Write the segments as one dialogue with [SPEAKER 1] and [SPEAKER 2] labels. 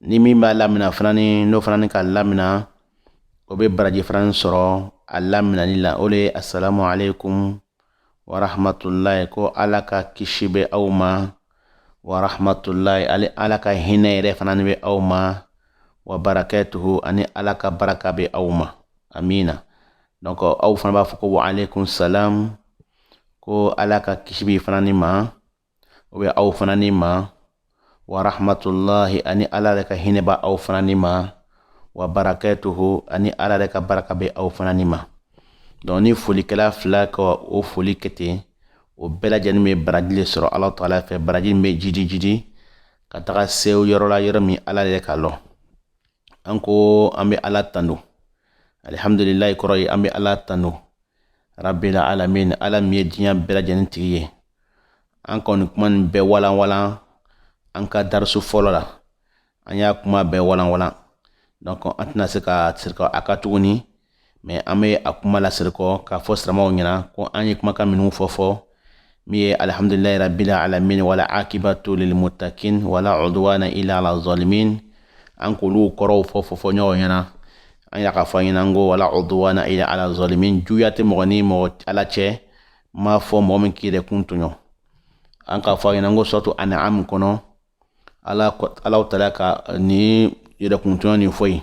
[SPEAKER 1] ni min b'a lamina fana ni n'o fana ni k'a lamina o bɛ baraji fana sɔrɔ a laminani la o le ye asalamu aleykum wa rahmatulahi ko ala ka kisi bɛ aw ma wa rahmatulahi ani ala ka hinɛ yɛrɛ fana ni bɛ aw ma wa barakatuhu ani ala ka baraka bɛ aw ma amiina donc aw fana b'a fɔ ko wa aleykum salam ko ala ka kisi b'i fana ni ma o bɛ aw fana ni ma wa rahmatulahi ani ala yɛrɛ ka hinɛ bɛ aw fana ni ma wa barakatuhu ani ala yɛrɛ ka baraka bɛ aw fana ni ma donc ni folikɛla fila ka o foli kɛ ten o bɛɛ lajɛlen bɛ baraji le sɔrɔ alaw taala fɛ baraji min bɛ jidijidi ka taga se o yɔrɔ la yɔrɔ min ala yɛrɛ k'a lɔn an ko an bɛ ala tanu alihamdulilayi kɔrɔ ye an bɛ ala tanu rabila alamin ala min ye diɲɛ bɛɛ lajɛlen tigi ye an kɔni kuma nin bɛɛ walanwalan an ka darisu fɔlɔ la an y'a kuma bɛɛ walanwalan donc an tɛna se ka segin kɔ a kan tuguni mais an bɛ a kuma lasegin kɔ k'a fɔ silamaw ɲɛna ko an ye kumakan minnu fɔ fɔ min ye alihamdulilayi rabila alamin wal akibatu lilmutakin wala ɔduwana ila ala zalimin an k'olu kɔrɔw fɔ fɔ fɔ ɲɔgɔn ɲɛna an y'a ka fɔ ɲɛna ko wala ɔduwana ila ala zalimin juguya tɛ mɔgɔ ni mɔgɔ ala cɛma fo mɔgɔ min k'i yɛrɛkun tɔɲɔ an k'a fɔ ɲɛna ko suratu an'ami kɔnɔ ala alaw taala ka nin yɛrɛkuntɔɲɔ nin fɔ yen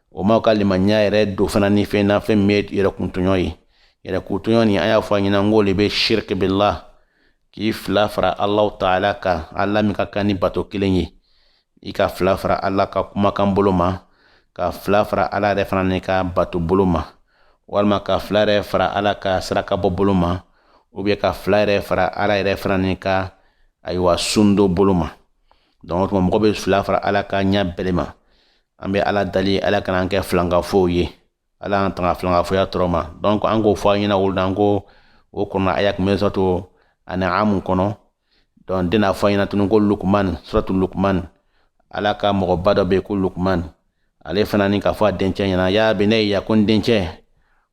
[SPEAKER 1] o ma o ka limaniya yɛrɛ don fana ni fɛn na fɛn min ye yɛrɛkuntɔɲɔ ye yɛrɛkuntɔɲɔ nin an y'a fɔ a ɲɛna n k'o le bɛ shiriki billah k'i fila fara alaw taala kan ala min ka kan ni bato kelen ye i ka fila fara ala ka kumakan bolo ma ka fila fara ala yɛrɛ fana ni ka bato bolo ma walima ka fila yɛrɛ fara ala ka saraka bɔ bolo ma ou bien ka fila yɛrɛ fara ala yɛrɛ fana ni ka ayiwa sundon bolo ma donc o tuma mɔgɔ bɛ fila fara ala kan ɲa bɛlɛ ma an bɛ ala dali ala kana an kɛ filankafow ye ala an tanga filankafoya tɔɔrɔ ma donc an k'o fɔ a ɲɛna o lon na an ko o kɔnɔ aya kun bɛ suratu an'amu kɔnɔ donc n de na a fɔ a ɲɛna tugun ko lukman suratu lukman ala ka mɔgɔba dɔ bɛ yen ko lukman ale fana ni k'a fɔ a dencɛ ɲɛna ya bunaya ko n dencɛ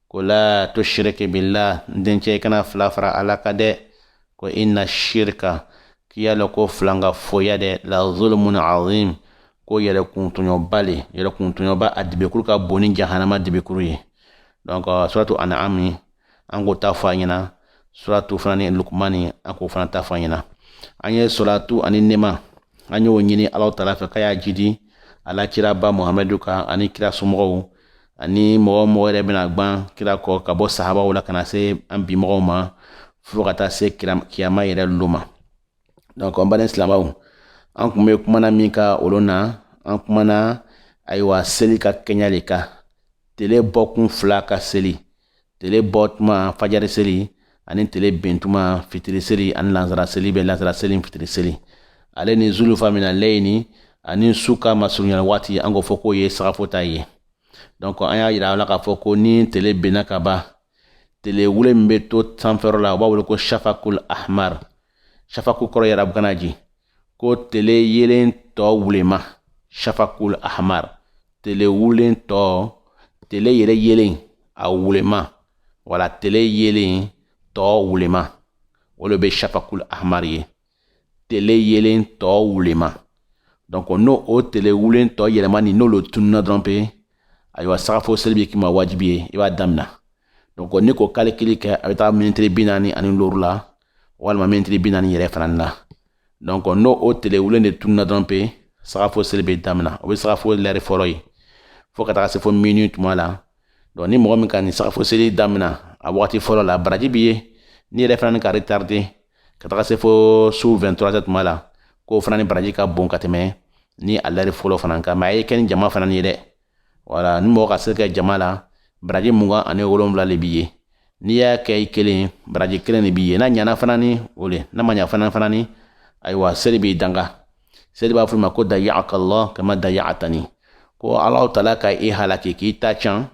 [SPEAKER 1] ko la tushiriki billa dencɛ i kana fila fara ala kan dɛ ko ina shirika k'i y'a lɔn ko filankafoya dɛ la zulumun azim ko yɛrɛkuntɔɲɔba le yɛrɛkuntɔɲɔba a dibikuru ka bon ni jahanama dibikuru ye donc euh, suratu an'ami an k'o ta fɔ a ɲɛna suratu fana ni lukumani an k'o fana ta fɔ a ɲɛna an ye salatu ani nɛɛma an y'o ɲini alaw taala fɛ k'a y'a jidi ala kiraba muhamadu kan ani kira somɔgɔw ani mɔgɔ o mɔgɔ yɛrɛ bɛna gwan kira kɔ ka bɔ sahabaw la ka na se an bi mɔgɔw ma fo ka taa se kiyama yɛrɛ lo ma donc an baden silamaw an kun bɛ kuma na min kan o lon na an kumana ayiwa seli ka kɛɲa le kan tele bɔkun fila ka seli tele bɔ tuma fajari seli ani tele ben tuma fitiri seli ani lansara seli bɛ lansara seli fitiri seli ale ni zulufa mina leyini ani su ka masurunyana waati an k'o fɔ k'o ye sagafo ta ye donc an y'a yira a la k'a fɔ ko ni tele benna ka ban tele wule min bɛ to sanfɛyɔrɔ la u b'a wele ko shafakul ahmar shafaku kɔrɔ ye arabukan na di ko tele yeelen tɔ wulema shafakul ahmar tele wulen tɔ tele yɛrɛ yeelen a wulema wala tele yeelen tɔ wulema o le bɛ shafakul ahmar ye tele yeelen tɔ wulema donc n'o o tele wulen tɔ yɛlɛma nin n'o le tununa dɔrɔn pe ayiwa sagafo seli bɛ k'i ma wajibi ye i b'a damina donc n'i k'o calcul kɛ a bɛ taa minitiri bi naani ani looru la walima minitiri bi naani yɛrɛ fana na donc n'o o tele wulen de tununa dɔrɔn pe sagafo seli bɛ damina o bɛ sagafo lɛri fɔlɔ ye fo ka taga se fo minuit tuma la donc ni mɔgɔ min ka nin sagafo seli damina a wagati fɔlɔ la baraji b'i ye n'i yɛrɛ fana n'i k'a retarder ka taga se fo su 23 tuma la k'o fana ni baraji ka bon ka tɛmɛ ni a lɛri fɔlɔ fana kan mais a ye kɛ ni jama fana ye dɛ voilà ni mɔgɔ ka seli kɛ jama la baraji mugan ani wolonwula de b'i ye n'i y'a kɛ i kelen baraji kelen de b'i ye n'a ɲana fana ni o de n'a ma ɲa fana ni ayiwa seli b'i danga seli b'a fɔ i ma ko dayakallah kama dayatani ko ala taala ka i halaki k'i ta can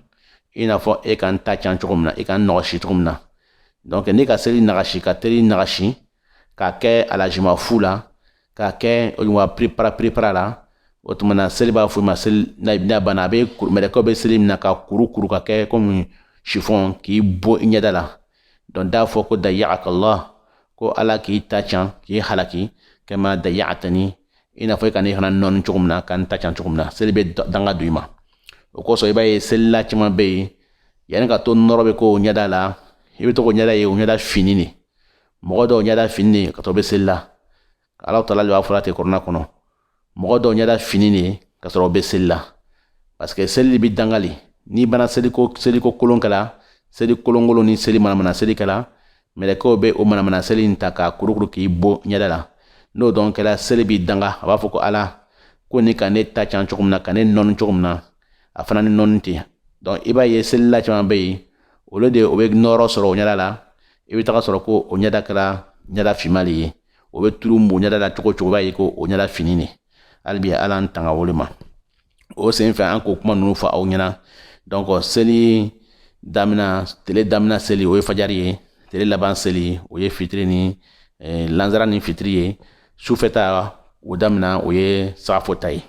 [SPEAKER 1] i n'a fɔ e ka n ta can cogo min na i ka n nɔgɔsi cogo min na donc n'i ka seli nagasi ka teli nagasi k'a kɛ alajima fu la k'a kɛ wa prepara prepara la o tuma na seli b'a fɔ i ma seli n'a banna a bɛ mɛlɛkɛw bɛ seli mina k'a kurukuru k'a kɛ comme chiffon k'i bon i ɲɛda la donc k'a fɔ ko dayakallah ko ala k'i ta can k'i halaki kama dayatani i n'a fɔ i ka ne fana nɔɔni cogo min na ka n ta can cogo min na seli bɛ danga don i ma o kosɔn i b'a ye selila caman bɛ yen yanni ka to nɔrɔ bɛ k'o ɲɛda la i bɛ to k'o ɲɛda ye o ɲɛda finnin de mɔgɔ dɔw ɲɛda finnin de ka sɔrɔ o bɛ seli la ala taala b'a fɔla ten kurana kɔnɔ mɔgɔ dɔw ɲɛda finnin de ka sɔrɔ o bɛ seli la parce que seli b'i danga le n'i banna seliko kolon kɛla seli kolonkolon ni seli manamana seli kɛla mɛlɛkɛw bɛ o manamana seli in ta k'a kurukuru k'i bon ɲɛda la n'o dun kɛla seli b'i danga a b'a fɔ ko ala komi i ka ne ta can cogo min na ka ne nɔɔni cogo min na a fana ni nɔɔni ten donc i b'a ye selila caman bɛ yen olu de o bɛ nɔɔrɔ sɔrɔ o ɲɛda la i bɛ taga sɔrɔ ko o ɲɛda kɛra ɲɛda finman de ye o bɛ turu mun ɲɛda la cogo cogo b'a ye ko o ɲɛda fini de hali bi ala an tanga olu ma o sen fɛ an k'o kuma ninnu fɔ aw ɲɛna donc seli damina tele damina seli o ye fajari ye tele laban seli o ye fitiri ni eh, lanzara ni fitiri ye sufɛ ta o damina o ye sagafo ta ye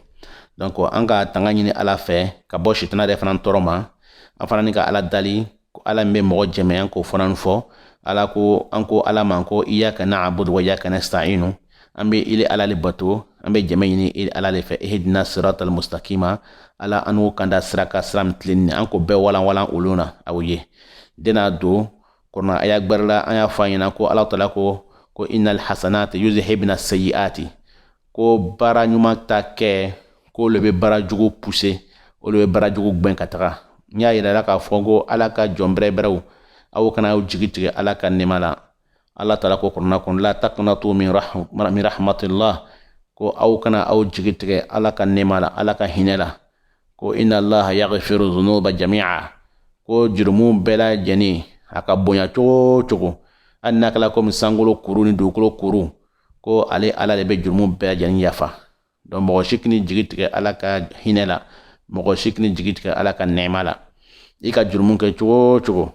[SPEAKER 1] donc an ka tanga ɲini ala fɛ ka bɔ sitana yɛrɛ fana tɔɔrɔ ma an fana ni ka ala dali ko ala min bɛ mɔgɔ jɛmɛ an k'o fana fɔ ala ko an ko ala ma ko iyyaka na'budu wa iyyaka nasta'inu an bɛ ile ala le bato an bɛ jɛmɛ ɲini ile ala le fɛ ihdina siratal mustaqima ala an n'o kanda sira kan sira min tilenni an k'o bɛɛ walanwalan olu na aw ye dena don kɔnɔ aya gbɛrɛ la an y'a fɔ a ɲɛna ko ala taala ko ko innal hasanati yuzhibna sayiati ko baara ɲuman ta kɛ k'o le bɛ baara jugu pousser o le bɛ baara jugu gwɛn ka taga n y'a yirala k'a fɔ ko ala ka jɔn bɛrɛbɛrɛw aw kana aw jigi tigɛ ala ka nɛɛma la ala taala ko kurana kɔnɔ la taqnatu min rahmatillah ko aw kana aw jigi tigɛ ala ka nɛɛma la ala ka hinɛ la ko inna allaha yaghfiru dhunuba jami'a ko jurumu bɛɛ lajɛlen a ka bonya cogo cogo hali n'a kɛla komi sankolo kuru ni dugukolo kuru ko ale ala de bɛ jurumu bɛɛ lajɛlen yafa donc mɔgɔ si kini jigi tigɛ ala ka hinɛ la mɔgɔ si kini jigi tigɛ ala ka nɛɛma la i ka jurumu kɛ cogo cogo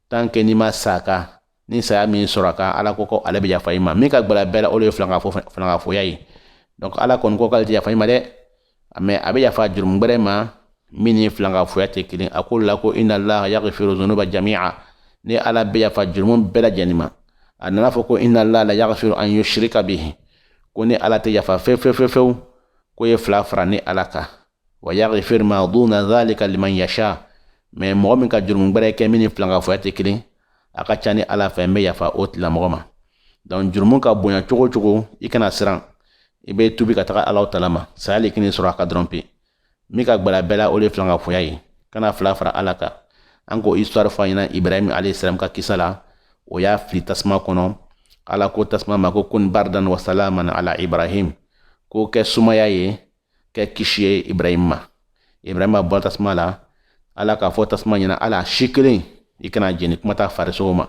[SPEAKER 1] tant que n'i ma sa ka ni saya m'i sɔrɔ a kan ala ko ko ale bɛ yafa i ma min ka gbɛlɛ bɛɛ la o de ye filankafo fo filankafoya ye donc ala kɔni ko k'ale tɛ yafa i ma dɛ mais a bɛ yafa jurumu gbɛrɛ ma min ni filankafoya tɛ kelen a ko la ko inna allaha yaghfiru dhunuba jami'a ne ala bɛ yafa jurumu bɛɛ lajɛlen ma a nana fɔ ko inna allaha la yaghfiru an yushrika bihi ko ne ala tɛ yafa fewu fewu fewu fewu ko ye fila fara ne ala kan wa yaghfir ma duna dhalika liman yasha mais mɔgɔ min ka jurumu gbɛrɛ kɛ min ni filankafoya tɛ kelen a ka ca ne ala fɛ n bɛ yafa o tigilamɔgɔ ma donc jurumu ka bonya cogo cogo i kana siran i bɛ tubi ka taga ala taala ma saya le kini sɔrɔ a kan dɔrɔn pe min ka gbɛlɛ bɛɛ la o de filankafoya ye kana fila fara ala kan an k'o histoire fɔ a ɲɛna ibrahim alayhisalam ka kisa la o y'a fili tasuma kɔnɔ ala ko tasuma ma ko kun bardan wa salaman ala ibrahim ko kɛ sumaya ye kɛ kisi ye ibrahim ma ibrahima bɔra tasuma la ala k'a fɔ tasuma ɲɛna hal'a si kelen i kana jeni kuma t'a farisogo ma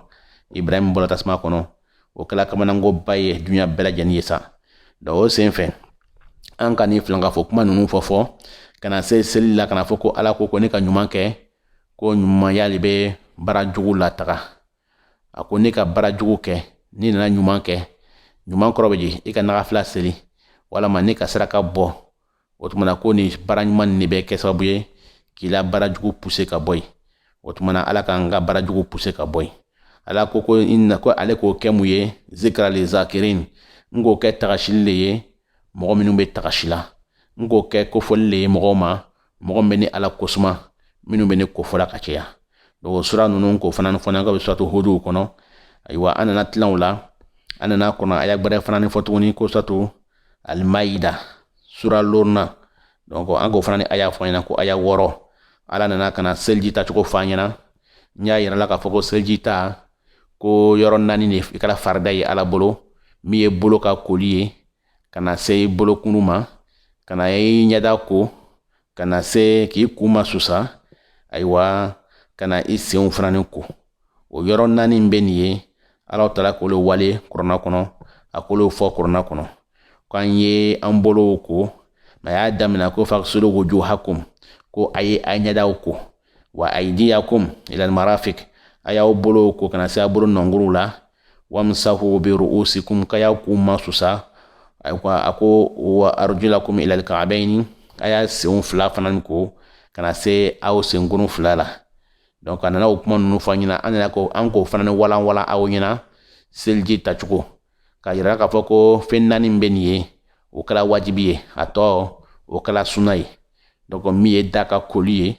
[SPEAKER 1] ibrahim bɔra tasuma kɔnɔ o kɛla kamanankoba ye duɲa bɛɛ lajɛlen ye sa donc o sen fɛ an ka ni filankafo kuma ninnu fɔ fo ka na se seli la ka n'a fɔ ko ala ko ko ne ka ɲuman kɛ ko ɲumanya de bɛ baara jugu lataga a ko ne ka baara jugu kɛ n'i nana ɲuman kɛ ɲuman kɔrɔ bɛ di i ka naga fila seli walama ne ka saraka bɔ o tumana ko ni baara ɲuman nin de bɛ kɛ sababu ye k'i la baara jugu pousser ka bɔ yen o tumana ala k'an ka baara jugu pousser ka bɔ yen ala ko ko ale k'o kɛ mun ye zikra li zakirin n k'o kɛ tagasili le ye mɔgɔ minnu bɛ tagasi la n k'o kɛ kofɔli le ye mɔgɔw ma mɔgɔ min bɛ ni ala kosuma minnu bɛ ni kofɔla ka caya o sura ninnu k'o fana fɔ n'an ka bɛ suratu hudu kɔnɔ ayiwa an nana tilan o la an nana kɔnɔ aya gbɛrɛ fana ni fɔ tuguni ko suratu almaida sura looruna donc an k'o fana ni aya fɔ ɲɛna ko aya wɔɔrɔ ala nana ka na seliji tacogo fɔ an ɲɛna n y'a yirala k'a fɔ ko seliji ta ko yɔrɔ naani de kɛra farida ye ala bolo min ye bolo ka koli ye ka na se i bolokunu ma ka na i ɲɛda ko ka na se k'i kun masusa ayiwa ka na i senw fana ni ko o yɔrɔ naani bɛ nin ye ala taara k'olu wele kurana kɔnɔ a k'olu fɔ kurana kɔnɔ k'an ye an bolow ko mɛ a y'a daminɛ ko fagsilu wujuhakum ko a ye a ɲɛdaw ko wa aydiyakum ila almarafiq a y'aw bolow ko ka na se a bolo nɔnguru la wamsahu bi ru'usikum k'a y'a kun masusa a ko wa arjulakum ila alka'bayn a y'a senw fila fana ko ka na se aw senkunu fila la donc a nana o kuma ninnu fɔ an ɲɛna an nana ko an k'o fana ni walanwalan aw ɲɛna seliji tacogo k'a yira k'a fɔ ko fɛn naani bɛ nin ye o kɛra wajibi ye a tɔ o kɛra suna ye donc min ye da ka koli ye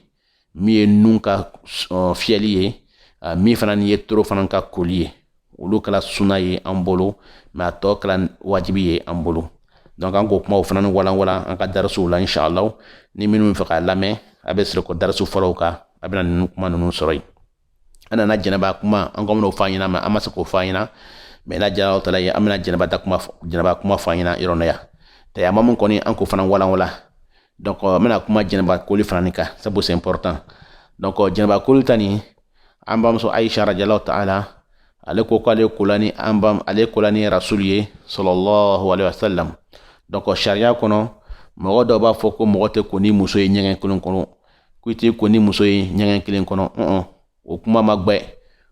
[SPEAKER 1] min ye nun ka fiyɛli ye min fana ni ye toro fana ka koli ye olu kɛra suna ye an bolo mɛ a tɔ kɛra wajibi ye an bolo donc an k'o kumaw fana ni walanwalan an ka darisuw la inshallah ni minnu fɛ k'a lamɛn a bɛ sɔrɔ ko darisu fɔlɔw kan a bɛna ninnu kuma ninnu sɔrɔ yen an nana janaba kuma an ko an bɛn'o fɔ an ɲɛna mɛ an ma se k'o fɔ an ɲɛna mɛ n'a diyara ala ye an bɛna janaba ta kuma janaba kuma fɔ an ɲɛna yɔrɔ na yan tayamumu kɔni an k'o fana walanwala donc n bɛna kuma janaba koli fana ni kan sabu c'est important donc janaba koli ta nin an bamuso aisha radiyallahu ta'ala ale ko k'ale kola ni an bam ale kola ni rasul ye sallallahu alaihi wasallam donc sariya kɔnɔ mɔgɔ dɔw b'a fɔ ko mɔgɔ tɛ ko ni muso ye ɲɛgɛn kelen kɔnɔ ko i t'i ko ni muso ye ɲɛgɛn kelen kɔnɔ ɔn o kuma ma gbɛ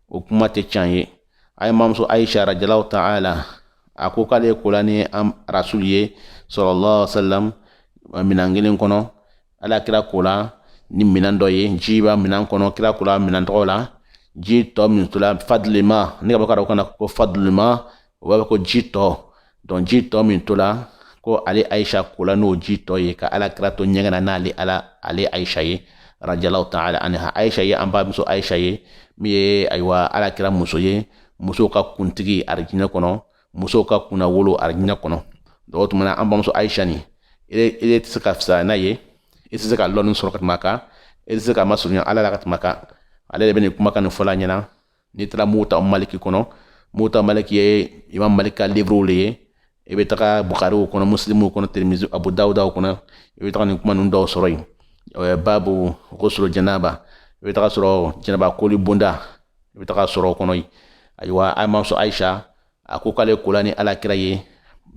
[SPEAKER 1] o kuma tɛ can ye a ye mamuso aisha radiyallahu ta'ala a ko k'ale kola ni rasul ye sallallahu alaihi wasallam minan kelen kɔnɔ ala kira kola ni minan dɔ ye ji b'a minan kɔnɔ kira kola minan tɔgɔ la ji tɔ min tola fadilima ne ka bɔ ka dɔn kana ko fadilima o b'a fɔ ko ji tɔ donc ji tɔ min tola ko ale ayisa kola n'o ji tɔ ye ka ala kira to ɲɛgɛn na n'ale ala ale ayisa ye radiyallahu taala anha ayisa ye an bamuso ayisa ye min ye ayiwa ala kira muso ye musow ka kuntigi arijinɛ kɔnɔ musow ka kunnawolo arijinɛ kɔnɔ donc o tuma na an bamuso ayisa ni ele tɛ se ka fisaya n'a ye e tɛ se ka lɔnni sɔrɔ ka tɛmɛ a kan e tɛ se ka masurunya ala la ka tɛmɛ a kan ale de bɛ nin kumakan nin fɔla an ɲɛna n'i taara muwata maliki kɔnɔ muwata maliki ye imam malik ka livre le ye i bɛ taga bukariw kɔnɔ musilimuw kɔnɔ tirimizi abu dawudaw kɔnɔ i bɛ taga nin kuma ninnu dɔw sɔrɔ yen babu ghusl janaba i bɛ taga sɔrɔ janaba koli bonda i bɛ taga sɔrɔ o kɔnɔ yen ayiwa an bamuso ayisa a ko k'ale kola ni alakira ye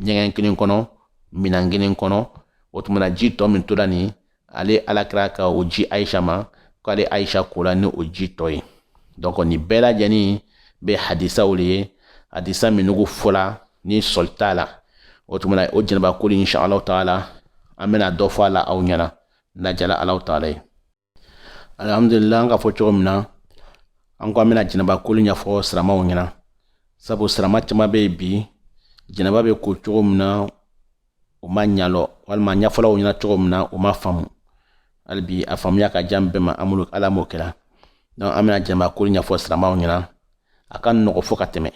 [SPEAKER 1] ɲɛgɛn kelen kɔnɔ minan kelen kɔnɔ o tuma na ji tɔ min tola nin ale alakira ka o di ayisa ma k'ale ayisa kola ni o ji tɔ ye donc nin bɛɛ lajɛlen bɛ hadisaw le ye hadisa minnugu fɔla ni sɔsɔli t'a la o tuma na o janaba koli insha alahu taala an bɛna dɔ fɔ a la aw ɲɛna n'a jala alahu taala ye alhamdulillah an ka fɔ cogo min na an ko an bɛna janaba koli ɲɛfɔ siramaw ɲɛna sabu sirama caman bɛ yen bi janaba bɛ ko cogo min na o m'a ɲalɔn walima ɲɛfɔla o ɲɛna cogo min na o m'a faamu hali bi a faamuya ka jan bɛɛ ma ala m'o kɛra donc an bɛna janaba koli ɲɛfɔ siramaw ɲɛna a ka nɔgɔ fo ka tɛmɛ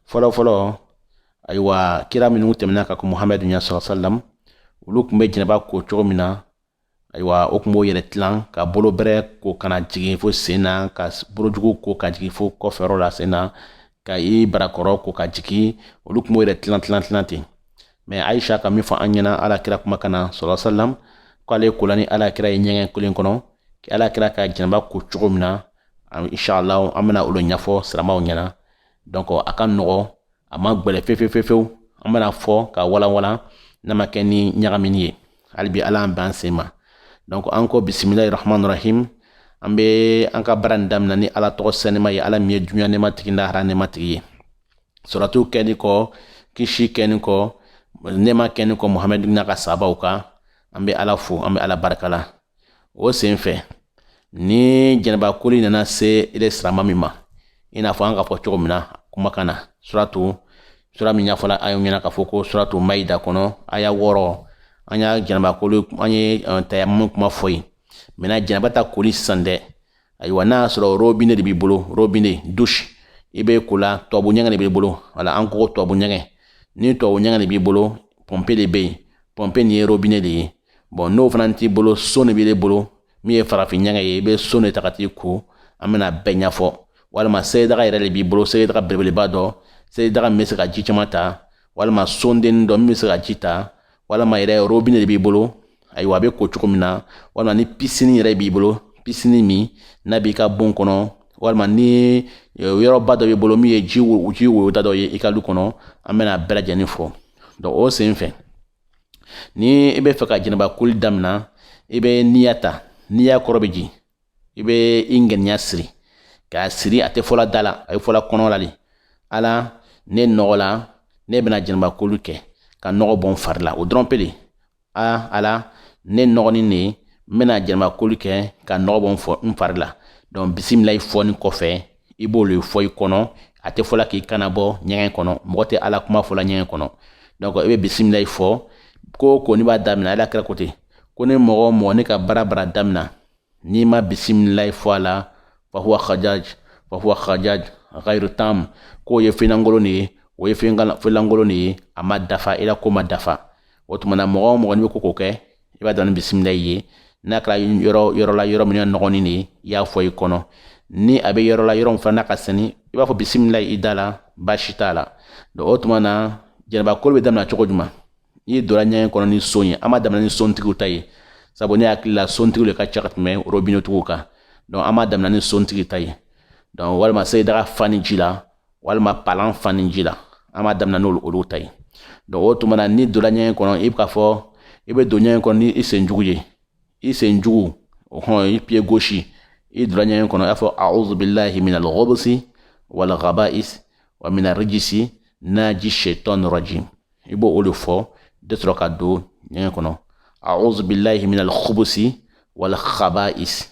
[SPEAKER 1] fɔlɔfɔlɔ ayiwa kira minnu tɛmɛna ka kɔn muhamadu ɲɛ sallallahu alaihi wasallam olu tun bɛ janaba ko cogo min na ayiwa o tun b'o yɛrɛ tilan ka bolo bɛrɛ ko ka na jigin fo sen na ka bolojugu ko ka jigin fo kɔfɛyɔrɔ la sen na ka i barakɔrɔ ko ka jigin olu tun b'o yɛrɛ tilan tilan tilan ten mais ayisa ka min fɔ an ɲɛna ala kira kumakan na sallallahu alaihi wasallam k'ale kola ni ala kira ye ɲɛgɛn kelen kɔnɔ ala kira ka janaba ko cogo min na inshallah an bɛna olu ɲɛfɔ siramaw ɲɛna donc a ka nɔgɔ a ma gbɛlɛ fefefefew an bɛna fɔ ka walanwalan n'a ma kɛ ni ɲagamini ye halibi ala an b'an sen ma donc an ko bisimilahi rahmani rahim an bɛ an ka baara nin daminɛ ni ala tɔgɔ sɛnɛma ye ala min ye duɲa nɛma tigi lahara nɛma tigi ye salatu kɛni kɔ kisi kɛni kɔ nɛma kɛni kɔ muhamɛdi n'a ka sabaw kan an bɛ ala fo an bɛ ala barika la o sen fɛ ni janaba koli nana se ile sirama min ma i n'a fɔ an ka fɔ cogo min na kumakan na suratu sura min ɲɛfɔla a y'o ɲɛna k'a fɔ ko suratu mayida kɔnɔ aya wɔɔrɔ an y'a janaba koli an ye eh, tayamum kuma fɔ yen maintenant janaba ta koli sisan dɛ ayiwa n'a y'a sɔrɔ robine de b'i bolo robine dusi i bɛ ko la tubabu ɲɛgɛn de b'i bolo wala an ko tubabu ɲɛgɛn ni tubabu ɲɛgɛn de b'i bolo pɔnpe de bɛ yen pɔnpe nin ye robine de ye bon n'o fana t'i bolo son de b'i bolo min ye farafin ɲɛgɛn ye i bɛ son de ta ka t'i ko an bɛna bɛɛ ɲɛfɔ walima selidaga yɛrɛ de b'i bolo selidaga belebeleba dɔ selidaga min bɛ se ka ji caman ta walima sonden dɔ min bɛ se ka ji ta walima yɛrɛ robine de b'i bolo ayiwa a bɛ ko cogo min na walima ni pisini yɛrɛ b'i bolo pisini min n'a b'i ka bon kɔnɔ walima ni e, yɔrɔba dɔ b'i bolo min ye ji ji woyota dɔ ye i ka du kɔnɔ an bɛna bɛɛ lajɛlen fɔ donc o sen fɛ ni i bɛ fɛ ka janaba koli damina i bɛ niya ta niya kɔrɔ bɛ di i bɛ i ŋaniya siri k'a siri a tɛ fɔla da la a bɛ fɔla kɔnɔ la de ala ne nɔgɔla ne bɛna janaba koli kɛ ka nɔgɔ bɔ n fari la o dɔrɔn pe de a ala ne nɔgɔnin de n bɛna janaba koli kɛ ka nɔgɔ bɔ n fari la donc bisimilayi fɔni kɔfɛ i b'olu fɔ i kɔnɔ a tɛ fɔla k'i kan nabɔ ɲɛgɛn kɔnɔ mɔgɔ tɛ ala kuma fɔla ɲɛgɛn kɔnɔ donc i bɛ bisimilayi fɔ ko o ko n'i b'a damina ala kira ko ten ko ni mɔgɔ o mɔgɔ n'i ka baara baara damina n'i ma bisimilayi fɔ a la fahuwa khajaj fahuwa khajaj ghayru tam k'o ye fɛnlankolon de ye o ye fɛnlankolon de ye a ma dafa i la ko ma dafa o tuma na mɔgɔ o mɔgɔ n'i bɛ ko o ko kɛ i b'a dɔn ni bisimilayi ye n'a kɛra yɔrɔ yɔrɔ la yɔrɔ min ye nɔgɔnin de ye i y'a fɔ i kɔnɔ ni a bɛ yɔrɔ la yɔrɔ min fana ka sɛni i b'a fɔ bisimila i da la baasi t'a la donc o tuma na janaba koli bɛ daminɛ cogo jumɛn n'i donna ɲɛgɛn kɔnɔ ni son ye an b'a daminɛ ni sontigiw ta ye sabu ne hakili la sontigiw de ka ca ka tɛmɛ robinetigiw kan donc an b'a daminɛ ni sontigi ta ye donc walima selidaga fani ji la walima palan fani ji la an b'a daminɛ n'olu olu ta ye donc o tuma na n'i donna ɲɛgɛn kɔnɔ i bɛ k'a fɔ i bɛ don ɲɛgɛn kɔnɔ ni i sen jugu ye i sen jugu hɔn i pied gauche i donna ɲɛgɛn kɔnɔ i y'a fɔ a'udhu billahi minal khubsi wal khaba'is wa mina rijisi naji shaitan rajim i b'o o de fɔ de sɔrɔ ka don ɲɛgɛn kɔnɔ a'udhu billahi minal khubusi wal khaba'is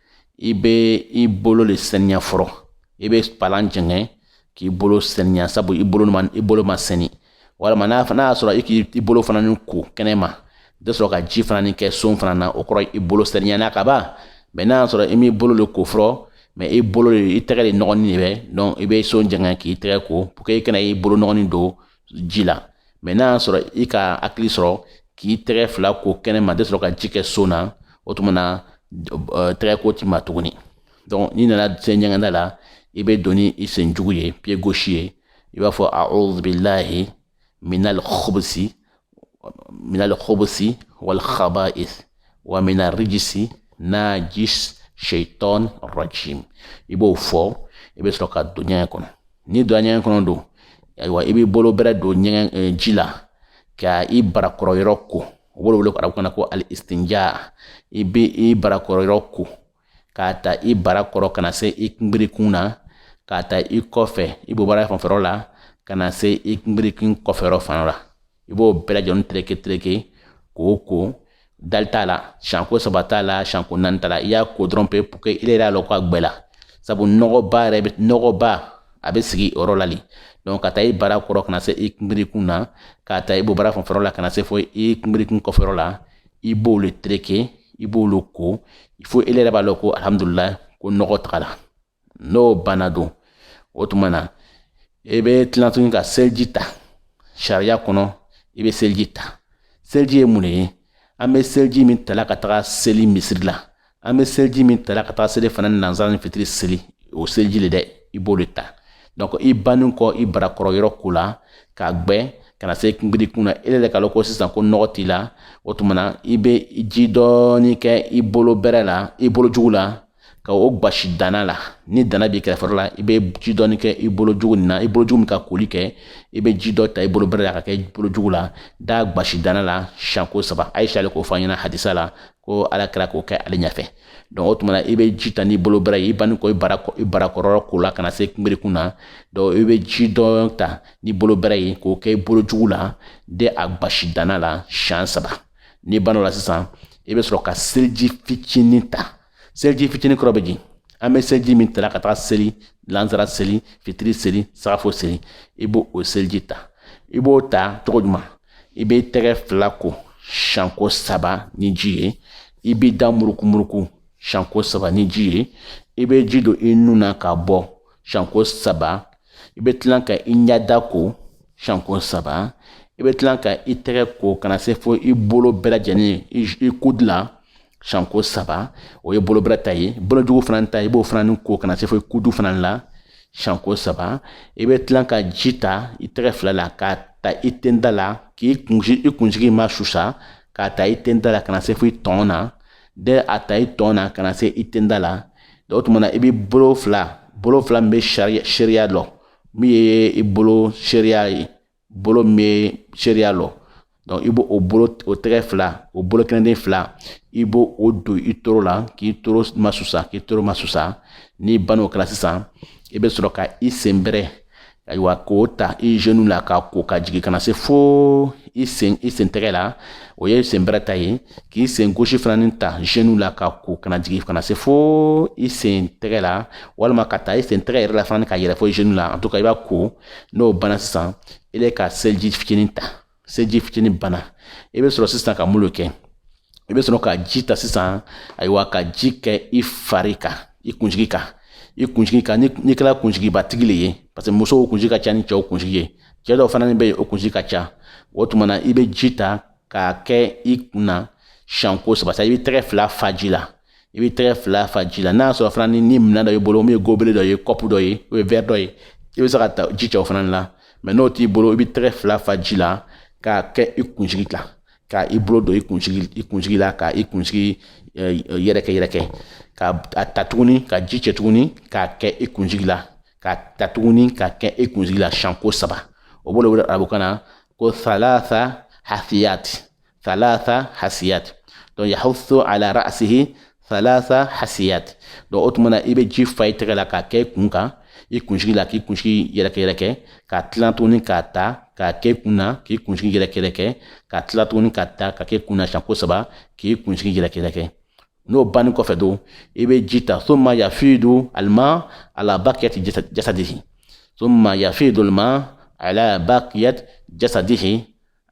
[SPEAKER 1] i bɛ i bolo de saniya fɔlɔ i bɛ palan jɛngɛ k'i bolo saniya sabu i bolo ma i bolo ma sɛni walima n'a n'a y'a sɔrɔ i k'i bolo fana ni ko kɛnɛ ma i bɛ sɔrɔ ka ji fana ni kɛ son fana na o kɔrɔ i bolo saniyana ka ban mais n'a y'a sɔrɔ i m'i bolo de ko fɔlɔ mais i bolo de i tɛgɛ de nɔgɔnin de bɛ donc i bɛ son jɛngɛ k'i tɛgɛ ko pour que i kana i bolo nɔgɔnin don ji la mais n'a y'a sɔrɔ i ka hakili sɔrɔ k'i tɛgɛ fila ko kɛnɛ ma tɛ sɔrɔ ka ji kɛ son na o tuma na tɛgɛ ko t'i ma tuguni donc n'i nana se ɲɛgɛnda la i bɛ don ni i sen jugu ye pied gauche ye i b'a fɔ a'udhu billahi minal khubsi wal khaba'is wa minal rijisi najis shaitan rajim i b'o fɔ i bɛ sɔrɔ ka don ɲɛgɛn kɔnɔ n'i donna ɲɛgɛn kɔnɔ don ayiwa i b'i bolo bɛrɛ don ɲɛgɛn eh, ji la ka i barakɔrɔ yɔrɔ ko u b'o wele arabukan na ko al istinja i bɛ i barakɔrɔ yɔrɔ ko k'a ta i barakɔrɔ ka na se i kunbirikun na k'a ta i kɔfɛ i bobara fanfɛyɔrɔ la ka na se i kunbirikun kɔfɛyɔrɔ fana la i b'o bɛɛ lajɛlen tereke tereke k'o ko dali t'a la siɲɛko saba t'a la siɲɛko naani t'a la i y'a ko dɔrɔn pe pour que i yɛrɛ y'a lɔ k'a gbɛla sabu nɔgɔba yɛrɛ bɛ nɔgɔba a bɛ sigi o yɔrɔ la le donc k'a ta i barakɔrɔ ka na se i kunbirikun na k'a ta i bobara fanfɛyɔrɔ la ka na se fo i kunbirikun kɔfɛyɔrɔ la i b'olu tereke i b'olu ko fo i yɛrɛ b'a lɔ ko alhamdulilayi ko nɔgɔ tagala n'o banna don o tuma na i bɛ tila tuguni ka seliji ta sariya kɔnɔ i bɛ seliji ta seliji ye mun le ye an bɛ seliji min tala ka taga seli misiri la an bɛ seliji min tala ka taga selifana nansara ni fitiri seli o seliji le dɛ i b'o de ta donc i bannen kɔ i barakɔrɔ yɔrɔ ko la k'a gbɛ ka na se kunbirikun na e yɛrɛ k'a lɔn ko sisan ko nɔgɔ t'i la o tuma na i bɛ ji dɔɔni kɛ i bolo bɛrɛ la i bolo jugu la ka o gbasi dana la ni dana b'i kɛrɛfɛ la i bɛ ji dɔɔni kɛ i bolo jugu nin na i bolo jugu min ka koli kɛ i bɛ ji dɔ ta i bolo bɛrɛ la k'a kɛ i bolo jugu la d'a gbasi dana la siɲɛko saba Aisha le k'o fɔ an ɲɛna hadisa la ko ala kira k'o kɛ ale ɲɛfɛ donc o tuma na i bɛ ji ta n'i bolo bɛrɛ ye i banni kɔ i bara i barakɔrɔ ko la ka na se kunbirikun na donc i bɛ ji dɔ ta n'i bolo bɛrɛ ye k'o kɛ i bolo jugu la de a gbasi dana la siɲɛ saba n'i banna o la sisan i bɛ sɔrɔ ka seliji fitinin ta seliji fitinin kɔrɔ bɛ di an bɛ seliji min tala ka taga seli lansara seli fitiri seli sagafo seli i b'o o seliji ta i b'o ta cogo jumɛn i b'i tɛgɛ fila ko siɲɛko saba ni ji ye i b'i da murukumuruku siɲɛko saba ni ji ye i bɛ ji don i nun na k'a bɔ siɲɛko saba i bɛ tila ka i ɲɛda ko siɲɛko saba i bɛ tila ka i tɛgɛ ko ka na se fo i bolo bɛɛ lajɛlen i kudu la siɲɛko saba o ye bolo bɛrɛ ta ye bolojugu fana ta i b'o fana ni ko ka na se fo i kudu fana la siɲɛko saba i bɛ tila ka ji ta i tɛgɛ fila la k'a ta i tenda la k'i kunsigi i kunsigi masusa k'a ta i tenda la ka na se fo i tɔn na dɛ a ta i tɔn na ka na se i tenda la donc o tuma na i bɛ bolo fila bolo fila min bɛ sariya seereya lɔ min ye i bolo seereya ye bolo min bɛ seereya lɔ donc i b'o o bolo o tɛgɛ fila o bolo kɛnɛden fila i b'o o don i toro la k'i toro masusa k'i toro masusa n'i ban'o kɛra sisan i bɛ sɔrɔ ka i sen bɛrɛ ayiwa k'o ta i genou la k'a ko ka jigin ka na se fo i sen i sen tɛgɛ la o ye sen bɛrɛ ta ye k'i sen gauche fana ni ta genou la k'a ko ka na jigin ka na se fo i sen tɛgɛ la walima k'a ta i sen tɛgɛ yɛrɛ la fana ka yɛlɛ fo genou la en tout cas i b'a ko n'o banna sisan i bɛ ka seliji fitinin ta seji fitinin banna i bɛ sɔrɔ sisan ka mun lo kɛ i bɛ sɔrɔ ka ji ta sisan ayiwa ka ji kɛ i fari kan i kunsigi kan i kunsigi kan n'i kɛra kunsigibatigi le ye parce que musow kunsigi ka ca ni cɛw kunsigi ye cɛ dɔw fana bɛ yen o kunsigi ka ca o tuma na i bɛ ji ta k'a kɛ i kun na siɲɛko saba sa i bɛ tɛgɛ fila fa ji la i bɛ tɛgɛ fila fa ji la n'a sɔrɔ fana ni ni minɛn dɔ y'i bolo min ye gobelet dɔ ye kɔpu dɔ ye o ye wɛri dɔ ye i bɛ se ka ta ji cɛ o fana la mais n'o t'i bolo i bɛ tɛgɛ fila fa ji la k'a kɛ i kunsigi la ka i bolo don i kunsigi i kunsigi la ka i kunsigi yɛrɛkɛ yɛrɛkɛ ka a ta tuguni ka ji cɛ tuguni k'a kɛ i kunsigi la ka ta tuguni k'a kɛ i kunsigi la siɲɛ ko saba o b'o de wele arabukan na ko thalatha hasiyat thalatha hasiyat donc yahuthu ala ra'sihi thalatha hasiyat donc o tuma na i bɛ ji fa i tɛgɛ la k'a kɛ i kun kan i kunsigi la k'i kunsigi yɛrɛkɛ yɛrɛkɛ ka tila tuguni k'a ta k'a kɛ i kun na k'i kunsigi yɛrɛkɛ yɛrɛkɛ ka tila tuguni k'a ta k'a kɛ i kun na siɲɛ ko saba k'i kunsigi yɛrɛkɛ yɛrɛkɛ n'o banni kɔfɛ donc i bɛ ji ta thumma yafidu alma ala baqiyati jasadihi thumma yafidu alma ala baqiyati jasadihi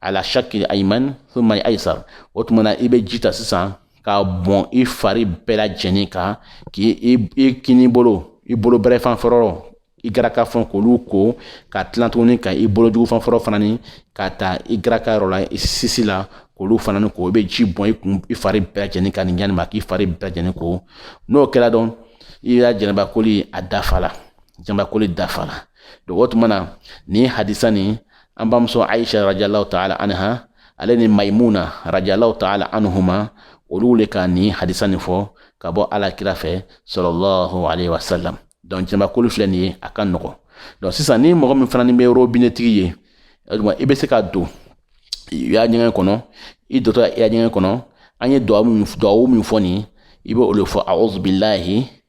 [SPEAKER 1] ala shaki ayman thumma aysar o tuma na i bɛ ji ta sisan k'a bɔn i fari bɛɛ lajɛlen kan k'i i kini bolo i bolo bɛrɛ fan fɔlɔ i garaka fɛn k'olu ko ka tila tuguni ka i bolo jugu fan fɔlɔ fana ni ka ta i garaka yɔrɔ la i sisi la k'olu fana ni ko i bɛ ji bɔn i kun i fari bɛɛ lajɛlen kan nin ɲa nin ma k'i fari bɛɛ lajɛlen ko n'o kɛra dɔn i ka jɛnɛbakoli a dafala jɛnɛbakoli dafala o tuma na nin hadisa nin an bamuso aisha radiyallahu taala anha ale ni maimuna radiyallahu taala anhuma olu le ka nin hadisa nin fɔ ka bɔ ala kira fɛ sallallahu alayhi wa sallam donc jɛnɛbakoli filɛ nin ye a ka nɔgɔn donc sisan ni mɔgɔ min fana ni bɛ robinɛtigi ye aduba i bɛ se ka don i ya ɲɛgɛn kɔnɔ i dontɔ i ya ɲɛgɛn kɔnɔ an ye duwawu min duwawu min fɔ nin i bɛ o le fɔ a'udhu billahi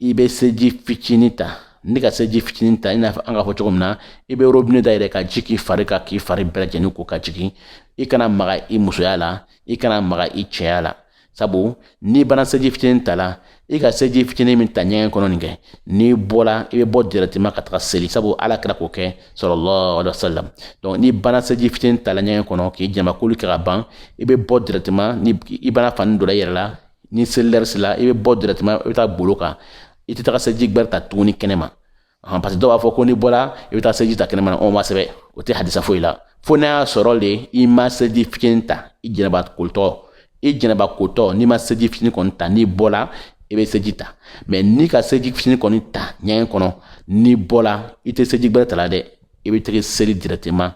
[SPEAKER 1] i bɛ seji fitinin ta n'i ka seji fitinin ta i n'a fɔ an k'a fɔ cogo min na i bɛ robine dayɛlɛ ka ji k'i fari kan k'i fari bɛɛ lajɛlen ko ka jigin i kana maga i musoya la i kana maga i cɛya la sabu n'i banna seji fitinin ta la i ka seji fitinin min ta ɲɛgɛn kɔnɔ nin kɛ n'i bɔra i bɛ bɔ directement ka taga seli sabu ala kira k'o kɛ sallallahu alayhi wa sallam donc n'i banna seji fitinin ta la ɲɛgɛn kɔnɔ k'i jɛnɛbakoli kɛ ka ban i bɛ bɔ directement ni i banna fani don na i yɛrɛ la ni selilɛri sela i bɛ bɔ directement i bɛ taa golo kan i tɛ taga seliji gbɛrɛ ta tuguni kɛnɛ ma parce que dɔw b'a fɔ ko n'i bɔra i bɛ taa seliji ta kɛnɛ ma o ma sɛbɛn o tɛ hadisa foyi la fo n'a y'a sɔrɔ de i ma seliji fitinin ta i jɛnɛba kolitɔ i jɛnɛba kotɔ n'i ma seliji fitinin kɔni ta n'i bɔra i bɛ seliji ta mais n'i ka seliji fitinin kɔni ta ɲɛgɛn kɔnɔ n'i bɔra i tɛ seliji gbɛrɛ ta la dɛ i bɛ tɛgɛ seli directement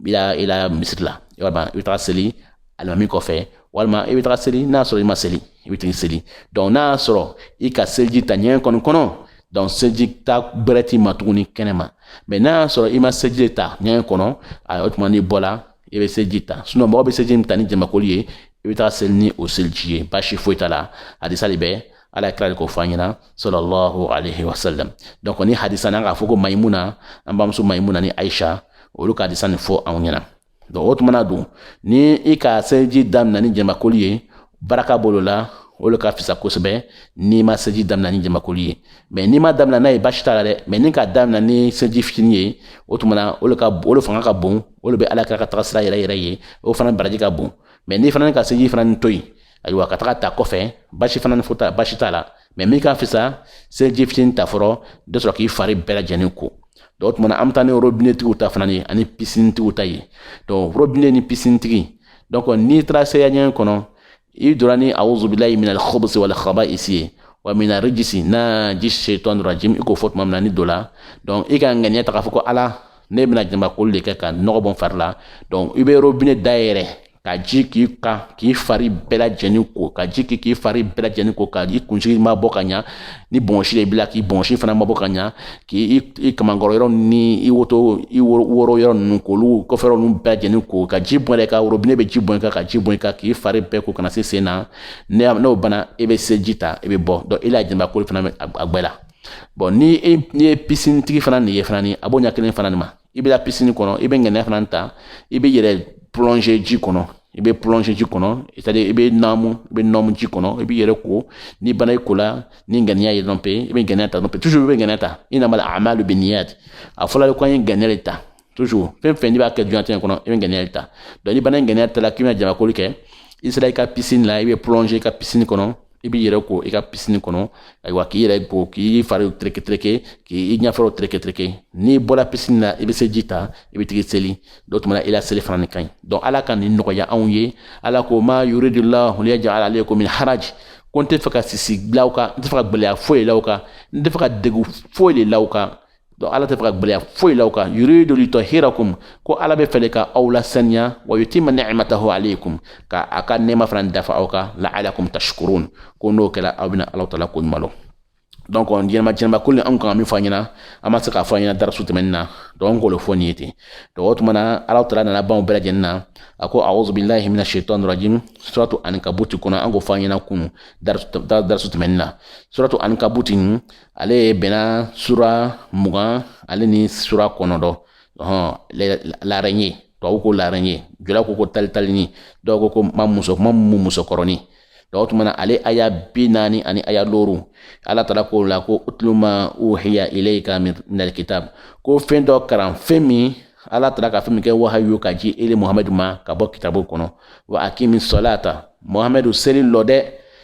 [SPEAKER 1] i la i la misiri la i b'a dɔn i bɛ taga seli alimami kɔfɛ walima i bɛ taga seli n'a sɔrɔ i ma seli i bɛ tigi seli donc n'a y'a sɔrɔ i ka seliji ta ɲɛgɛn kɔnɔ donc seliji ta gbɛrɛ t'i ma tuguni kɛnɛ ma mais n'a y'a sɔrɔ i ma seliji ta ɲɛgɛn kɔnɔ a o tuma n'i bɔla i bɛ seliji ta sinon mɔgɔ bɛ seliji min ta ni janabakoli ye i bɛ taga seli ni o seliji ye baasi foyi t'a la hadisa de bɛ ala kira de k'o fɔ an ɲɛna sallallahu alaihi wasallam donc ni hadisa n'an k'a fɔ ko maimuna an bamuso maimuna ni aisha olu ka hadisa nin fɔ anw ɲɛna donc o tumana dun ni i ka seliji daminɛ ni janabakoli ye baraka b'o le la o le ka fisa kosɛbɛ n'i ma seliji daminɛ ni janabakoli ye mais n'i ma daminɛ n'a ye baasi t'a la dɛ mais n'i ka daminɛ ni seliji fitini ye o tumana o le ka o le fanga ka bon o le bɛ ala kira ka taga sira yɛrɛ yɛrɛ ye o fana baraji ka bon mais n'i fana ni ka seliji fana nin to yen ayiwa ka taga ta kɔfɛ baasi fana ni foyi t'a baasi t'a la mais min ka fisa seliji fitini ta fɔlɔ de sɔrɔ k'i fari bɛɛ lajɛlen ko donc o tuma na an bɛ taa ni robinetigiw ta fana ye ani pisinitigiw ta ye donc robine ni pisinitigi donc n'i taara seya ɲɛgɛn kɔnɔ i donna ni awuzubilayi minal khubusi wal khaba'isi ye wa mina rijisi najis shaitan rajim i k'o fɔ tuma min na n'i donna donc i ka ŋaniya ta k'a fɔ ko ala ne bɛna janabakoli de kɛ ka nɔgɔ bɔ n fari la donc i bɛ robine dayɛrɛ ka ji k'i kan k'i fari bɛɛ lajɛlen ko ka ji k'i k'i fari bɛɛ lajɛlen ko ka i kunsigi ma bɔ ka ɲa ni bɔnsi de b'i la k'i bɔnsi fana ma bɔ ka ɲa k'i i kamankɔrɔ yɔrɔ ni i woto i woro yɔrɔ ninnu k'olu kɔfɛ yɔrɔ ninnu bɛɛ lajɛlen ko ka ji bɔn i kan robine bɛ ji bɔn i kan ka ji bɔn i kan k'i fari bɛɛ ko ka na se sen na n'o banna i e bɛ seliji ta i e bɛ bɔ donc i e la jɛnɛba koli fana bɛ a gbɛla bon ni e ni ye pisinitigi fana nin ye fana ni a b'o ɲɛ kelen fana nin ma i bɛ taa pisini kɔnɔ i bɛ ŋaniya fana ta i b'i yɛrɛ plɔnze ji kɔnɔ i bɛ plɔnze ji kɔnɔ c'est-à-dire i bɛ naamu i bɛ nɔmu ji kɔnɔ i b'i yɛrɛ ko n'i banna i ko la ni ŋaniya ye dɔrɔn pe i bɛ ŋaniya ta dɔrɔn pe toujours i bɛ ŋaniya ta innamal a'malu binniyat a fɔla ko an ye ŋaniya de ta toujours fɛn fɛn n'i b'a kɛ dunyalatigɛ kɔnɔ i bɛ ŋaniya de ta donc n'i banna i ŋaniya ta la k'i bɛna janabakoli kɛ i sera i ka pisini la i bɛ plɔnze i ka pisini kɔnɔ i b'i yɛrɛ ko i ka pisini kɔnɔ ayiwa k'i yɛrɛ ko k'i fari tereke tereke k'i ɲɛfɛw tereke tereke n'i bɔra pisini na i bɛ seliji ta i bɛ tigi seli donc o tuma na i la seli fana nin ka ɲi donc ala ka nin nɔgɔya anw ye ala ko ma yuridullahu liyajala alaykum min haraj ko n tɛ fɛ ka sisi bila aw kan n tɛ fɛ ka gɛlɛya foyi la aw kan n tɛ fɛ ka degun foyi de la aw kan donc ala tɛ fɛ ka gɛlɛya foyi la aw kan yuridu litahhirakum ko ala bɛ fɛ ka aw lasaniya wa yutimma ni'matahu alaykum ka a ka nɛma fana dafa aw kan la'alakum tashkurun ko n'o kɛra aw bɛna ala tala ko ɲuman dɔn donc jɛnɛba jɛnɛba koli anw kan ka min fɔ aw ɲɛna an ma se k'a fɔ aw ɲɛna darasu tɛmɛnen na donc an k'o fɔ nin ye ten donc o tuma na ala tala nana ban o bɛɛ lajɛlen na a ko auzu billahi mina shaitani rajim suratu ankabuti kɔnɔ an k'o fɔ aw ɲɛna kunu darasu tɛmɛnen na suratu ankabuti ale ye bɛnna sura mugan ale ni sura kɔnɔntɔn ɔhɔn l'araignée tubabu ko l'araignée jula ko ko talitalini dɔw ko ko ma muso ma mu musokɔrɔni donc o tuma na ale aya bi naani ani aya looru ala tala ko la ko utlu ma uhiya ilayka minal kitab ko fɛn dɔ karan fɛn min ala tala ka fɛn min kɛ wahayu ka ji ele muhamadu ma ka bɔ kitabu kɔnɔ wa akimi salata muhamadu seli lɔ dɛ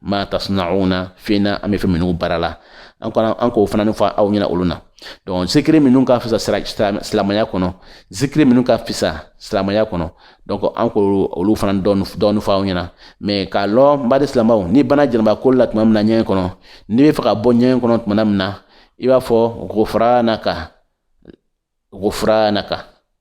[SPEAKER 1] ma tasna'una fɛn na an bɛ fɛn minnu baara la an kana an k'o fana fɔ aw ɲɛna olu na donc zikiri minnu ka fisa silamɛya kɔnɔ zikiri minnu ka fisa silamɛya kɔnɔ donc an k'olu olu fana dɔɔni fɔ aw ɲɛna mais k'a lɔ n baden silamɛw n'i banna jɛnɛba koli la tuma min na ɲɛgɛn kɔnɔ n'i bɛ fɛ ka bɔ ɲɛgɛn kɔnɔ tuma min na i b'a fɔ gufranaka gufranaka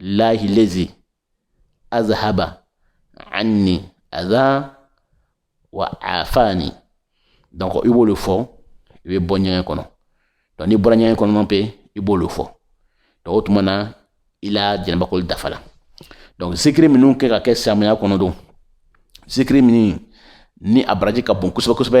[SPEAKER 1] lahi lazi azhaba anni aza wa afani donc i b'olu fɔ i bɛ bɔ ɲɛgɛn kɔnɔ donc n'i bɔra ɲɛgɛn kɔnɔ pe i b'olu fɔ donc o tuma na i la jɛnɛbakoli dafala donc zikiri minnu kɛ ka kɛ silamɛya kɔnɔ don zikiri minnu ni a baraji ka bon kosɛbɛ kosɛbɛ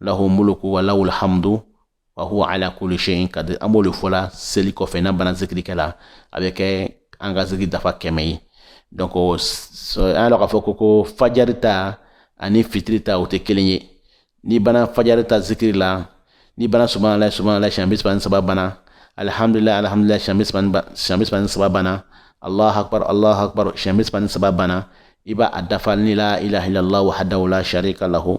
[SPEAKER 1] lahu mulku wa lahul hamdu wa huwa ala kulli shay'in qadir an b'o de fɔ la seli kɔfɛ n'an banna zikiri kɛ la a bɛ kɛ an ka zikiri dafa kɛmɛ ye donc an y'a dɔn k'a fɔ ko ko fajari ta ani fitiri ta o tɛ kelen ye n'i banna fajari ta zikiri la n'i banna subahana layi subahana layi siɲɛ bi saba ni saba banna alihamdulilayi alihamdulilayi siɲɛ bi saba ni siɲɛ bi saba ni saba banna alahu akbar alahu akbar siɲɛ bi saba ni saba banna i b'a a dafa ni la ilaha illallah wahadahu la sharika lahu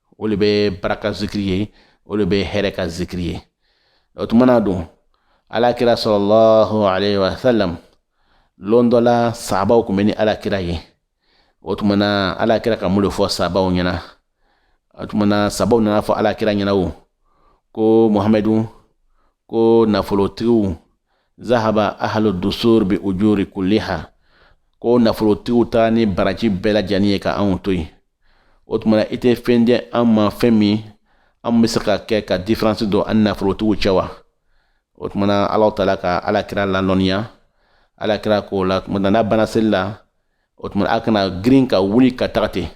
[SPEAKER 1] o le bɛ baraka zikiri ye o le bɛ hɛrɛ ka zikiri ye o tuma na don ala kira sallallahu alayhi wa sallam lon dɔ la sabaw kun bɛ ni ala kira ye o tuma na ala kira ka mun le fɔ sabaw ɲɛna o tuma na sabaw nana fɔ ala kira ɲɛna o ko muhamadu ko nafolotigiw zahaba ahalu dusur bi ujuri kulliha ko nafolotigiw taara ni baraji bɛɛ lajɛlen ye ka anw to yen o tuma na i tɛ fɛn di an ma fɛn min an bɛ se ka kɛ ka différence don an ni nafolotigiw cɛ wa o tuma na alahu taala ka alakira ladɔnniya alakira k'o la tuma na n'a banna seli la o tuma na a kana girin ka wuli ka taga ten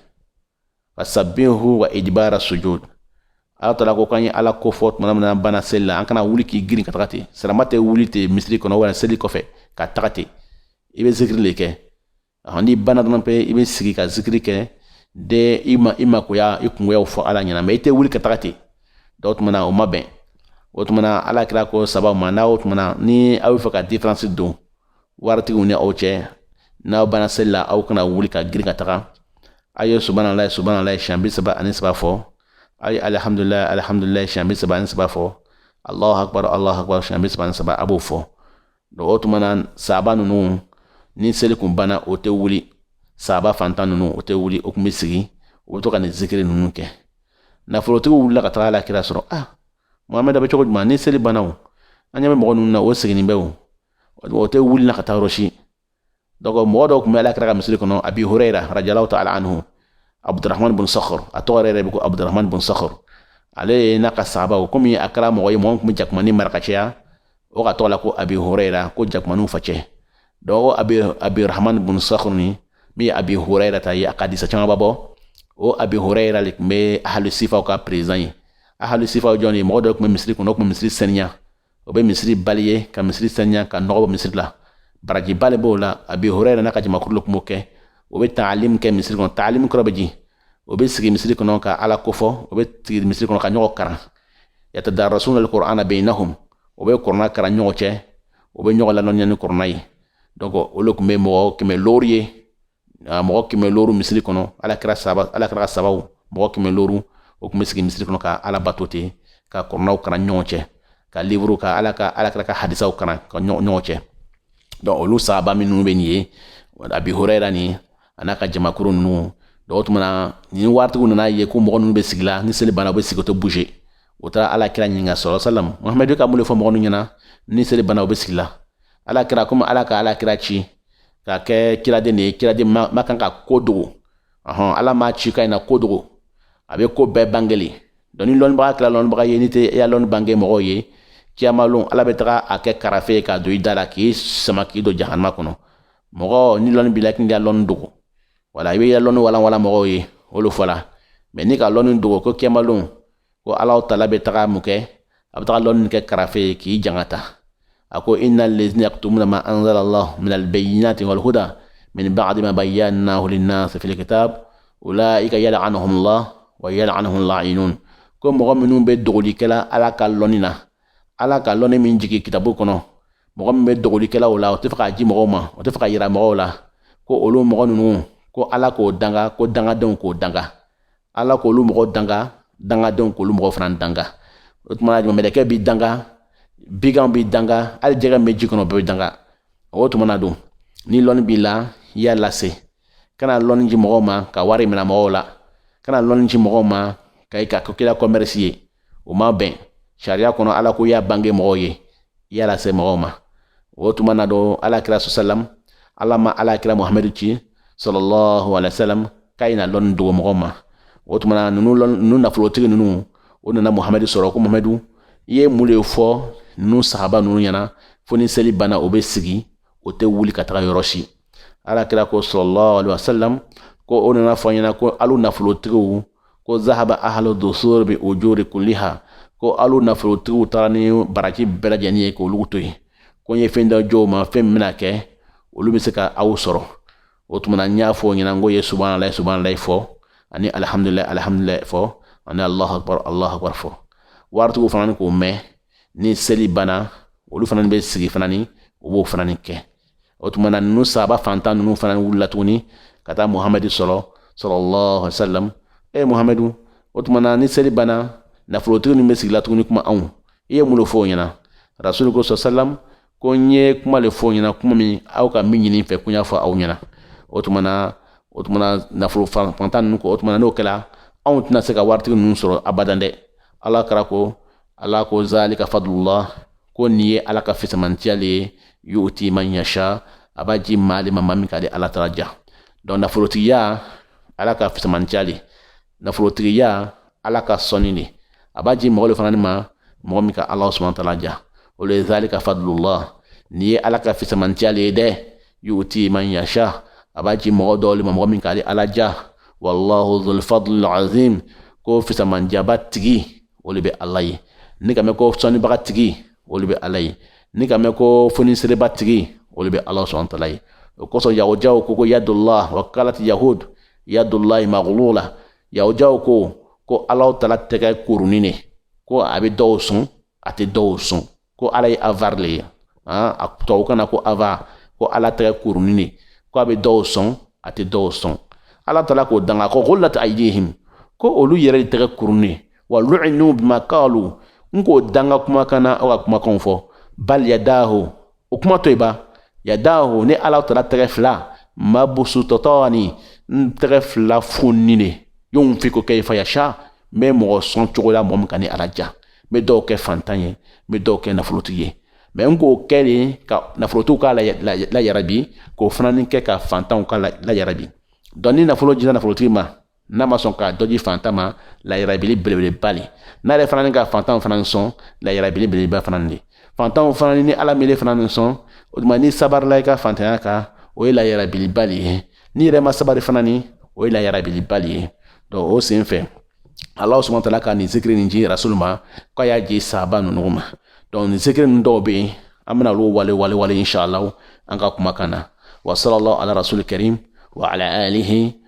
[SPEAKER 1] fasabihu wa idibara sujud ala taala ko k'an ye ala ko fɔ tuma min na n'an banna seli la an kana wuli k'i girin ka taga ten sirama tɛ wuli ten misiri kɔnɔ wala seli kɔfɛ ka taga ten i bɛ zikiri le kɛ n'i banna dɔrɔn pe i bɛ sigi ka zikiri kɛ de i ma i makoya i kungoyaw fɔ ala ɲɛna mais i tɛ wuli ka taga ten donc o tuma na o ma bɛn o tuma na ala kira ko saabaw ma n'a o tuma na ni aw bɛ fɛ ka diferansi don waritigiw ni aw cɛ n'aw banna seli la aw kana wuli ka girin ka taga a ye subanalayi subanalayi siɲɛ bi saba ani saba fɔ a ye alihamdulilayi alihamdulilayi siɲɛ bi saba ani saba fɔ alahu akbar alahu akbar siɲɛ bi saba ani saba a b'o fɔ donc o tuma na saaba ninnu ni seli kun banna o tɛ wuli saaba fantan ninnu o tɛ wuli o kun bɛ sigi o bɛ to ka nin zikiri ninnu kɛ nafolotigiw wulila ka taga ala kira sɔrɔ ah muhamɛd bɛ cogo jumɛn ni seli banna o an ɲɛ bɛ mɔgɔ ninnu na o siginin bɛ o o tɛ wuli na ka taa yɔrɔ si donc mɔgɔ dɔ kun bɛ ala kira ka misiri kɔnɔ abi hurayra radiallahu taala anhu abdurahman bun sakhar a tɔgɔ yɛrɛ bɛ ko abdurahman bun sakhar ale ye n'a ka sahabaw komi a kɛra mɔgɔ ye mɔgɔ min kun bɛ jakumani mara ka caya o k'a tɔgɔ la ko abi hurayra ko jakumaniw facɛ donc o abi abdurahman bun sakhar ni min ye abi hurayra ta ye a ka hadisa camanba bɔ o abi hurayra le kun bɛ ahlu sifaw ka président ye ahlu sifaw jɔn ye mɔgɔ dɔw kun bɛ misiri kɔnɔ o kun bɛ misiri saniya o bɛ misiri balayer ka misiri saniya ka nɔgɔ bɔ misiri la barajiba le b'o la abi hurayra n'a ka jamakuru le kun b'o kɛ o bɛ taalim kɛ misiri kɔnɔ taalim kɔrɔ bɛ di o bɛ sigi misiri kɔnɔ ka ala ko fɔ o bɛ sigi misiri kɔnɔ ka ɲɔgɔn karan yatadarasuna alqur'ana bainahum o bɛ kɔrɔna karan ɲɔgɔn cɛ o bɛ ɲɔgɔn lalɔnniya ni kɔrɔna ye donc o le kun bɛ mɔgɔ kɛmɛ looru ye mɔgɔ kɛmɛ looru misiri kɔnɔ ala kira saaba ala kira saabaw mɔgɔ kɛmɛ looru o kun bɛ sigi misiri kɔnɔ ka ala bato ten ka kɔrɔnaw karan ɲɔgɔn cɛ ka livuru ka ala ka ala kira ka hadisaw karan ka ɲɔgɔn cɛ donc olu saaba minnu bɛ nin ye abi hurayra ni a n'a ka jamakuru ninnu donc o tuma na ni waritigiw nana ye ko mɔgɔ ninnu bɛ sigi la ni seli banna u bɛ sigi o tɛ bouger o taara ala kira ɲininka sallallahu alayhi wasallam muhamadu ka mun le fɔ mɔgɔ ninnu ɲɛna ni seli banna u bɛ sigi la ala kira komi ala ka ala kira ci k'a kɛ kiraden de ye kiraden ma, ma kan ka ko dogo ɔhɔn ala m'a ci k'a ye na ko dogo a bɛ ko bɛɛ bange le donc ni lɔnbaga kɛra lɔnbaga ye n'i tɛ i ya lɔnni bange mɔgɔw ye kiyamalon ala bɛ taga a kɛ karafe ye k'a don i da la k'i sama k'i don jahanama kɔnɔ mɔgɔ ni lɔnni b'i la k'i ya lɔnni dogo wala i b'i ya lɔnni walanwalan mɔgɔw ye o le fɔla mais n'i ka lɔnni dogo ko kiyamalon ko ala tala bɛ taga mun kɛ a bɛ taga lɔnni kɛ karafe ye k'i janga ta a ko inna lezina yaktumuna ma anzala allah min albayinati walhuda min ba'di ma bayyanahu linnas fil kitab ulaika yal'anuhum allah wa yal'anuhum la'inun ko mɔgɔ minnu bɛ dogoli kɛla ala ka lɔnni na ala ka lɔnni min jigi kitabu kɔnɔ mɔgɔ min bɛ dogoli kɛla o la o tɛ fɛ k'a ji mɔgɔw ma o tɛ fɛ k'a yira mɔgɔw la ko olu mɔgɔ ninnu ko ala k'o danga ko dangadenw k'o danga ala k'olu mɔgɔ danga dangadenw k'olu mɔgɔ fana danga o tuma mɛlɛkɛ b'i danga biganw b'i danga hali jɛgɛ min bɛ ji kɔnɔ bɛɛ bɛ danga o tuma na don ni lɔnni b'i la i y'a lase kana lɔnni ji mɔgɔw ma ka wari mina mɔgɔw la kana lɔnni ji mɔgɔw ma ka i k'a kɛla kɔmɛrisi ye o ma bɛn sariya kɔnɔ ala ko i y'a bange mɔgɔw ye i y'a lase mɔgɔw ma o tuma na don ala kira sɔsalam ala ma ala kira muhamadu ci sallallahu alaihi wasallam k'a ye na lɔnni dogo mɔgɔw ma o tuma na ninnu ninnu nafolotigi ninnu o nana muhamadu sɔrɔ ko muhamadu i ye mun le fɔ ninnu sahaba ninnu ɲɛna fo ni seli banna o bɛ sigi o tɛ wuli ka taga yɔrɔ si ala kira ko sallallahu alaihi wasallam ko o nan'a fɔ n ɲɛna ko alu nafolotigiw ko zahaba ahlu dusur bi ujuri kulliha ko alu nafolotigiw taara ni baraji bɛɛ lajɛlen ye k'olugu to yen ko n ye fɛn dɔ ji o ma fɛn min bɛna kɛ olu bɛ se ka aw sɔrɔ o tuma na n y'a fɔ o ɲɛna n ko o ye subahanala subahanala fɔ ani alihamudulila alihamudulila fɔ ani alahu akbar alahu akbar fɔ waritigiw fana ni k'o mɛn ni seli banna olu fana ni bɛ sigi fana ni o b'o fana ni kɛ o tuma na ninnu sahaba fantan ninnu fana wulila tuguni ka taa muhamadu sɔrɔ sallallahu alaihi wasallam e muhamadu o tuma na ni seli banna nafolotigi ninnu bɛ sigila tuguni kuma anw i ye mun le fɔ o ɲɛna rasulu ko sɔ salam ko n ye kuma le fɔ o ɲɛna kuma min aw ka min ɲini n fɛ ko n y'a fɔ aw ɲɛna o tuma na o tuma na nafolo fantan ninnu ko o tuma na n'o kɛra anw tɛna se ka waritigi ninnu sɔrɔ abadan dɛ ala kira ko ala ko zalika fadlullah ko nin ye ala ka fisamantiya le ye yuti man yasha a b'a ji maa le ma maa min ka ale ala tala ja donc nafolotigiya ala ka fisamantiya le nafolotigiya ala ka sɔnni le a b'a ji mɔgɔ le fana ni ma mɔgɔ min ka ala subahana wa tala ja o le zalika fadlullah nin ye ala ka fisamantiya le ye dɛ yuti man yasha a b'a ji mɔgɔ dɔ le ma mɔgɔ min ka ale ala ja wallahu dhul fadlil azim ko fisamantiyaba tigi o le bɛ ala ye n'i k'a mɛn ko sɔnnibaga tigi o le bɛ ala ye n'i k'a mɛn ko fonisereba tigi o le bɛ ala subahana wa tala ye o kosɔn yahudiyaw ko ko yadullah wa kalati yahud yadullahi maghlula yahujaw ko ko ala tala tɛgɛ kurunin ne ko a bɛ dɔw sɔn a tɛ dɔw sɔn ko ala ye avare le ye a tɔw kana ko avare ko ala tɛgɛ kurunin ne ko a bɛ dɔw sɔn a tɛ dɔw sɔn ala tala k'o danga ko ghullat aydihim ko olu yɛrɛ de tɛgɛ kurunin wa lu'inu bima qalu n k'o danga kumakan na o ka kumakan fɔ bal yadahu o kuma to yi bal yadahu ne ala tala tɛgɛ fila mabsutatani n tɛgɛ fila fonnin ne yunfiqu kayfa yasha n bɛ mɔgɔ sɔn cogo la mɔgɔ min ka ne ala ja n bɛ dɔw kɛ fantan ye n bɛ dɔw kɛ nafolotigi ye mɛ n k'o kɛ le ka nafolotigiw ka layarabi k'o fana ni kɛ ka fantanw ka layarabi donc ni nafolo jira nafolotigi ma n'a ma sɔn ka dɔ ji fantan ma layirabili belebeleba le n'a yɛrɛ fana ni ka fantanw fana sɔn layirabili belebeleba fana le fantanw fana ni ala m'ele fana ni sɔn o tuma n'i sabarila i ka fantanya kan o ye layirabiliba le ye n'i yɛrɛ ma sabari fana ni o ye layirabiliba le ye donc o sen fɛ ala subhanahu wa tala ka nin zikiri nin ji rasul ma k'a y'a ji sahaba ninnu ma donc nin zikiri ninnu dɔw bɛ yen an bɛna olu walawala inshallah an ka kumakan na wa sallallahu ala rasul karim wa ala alihi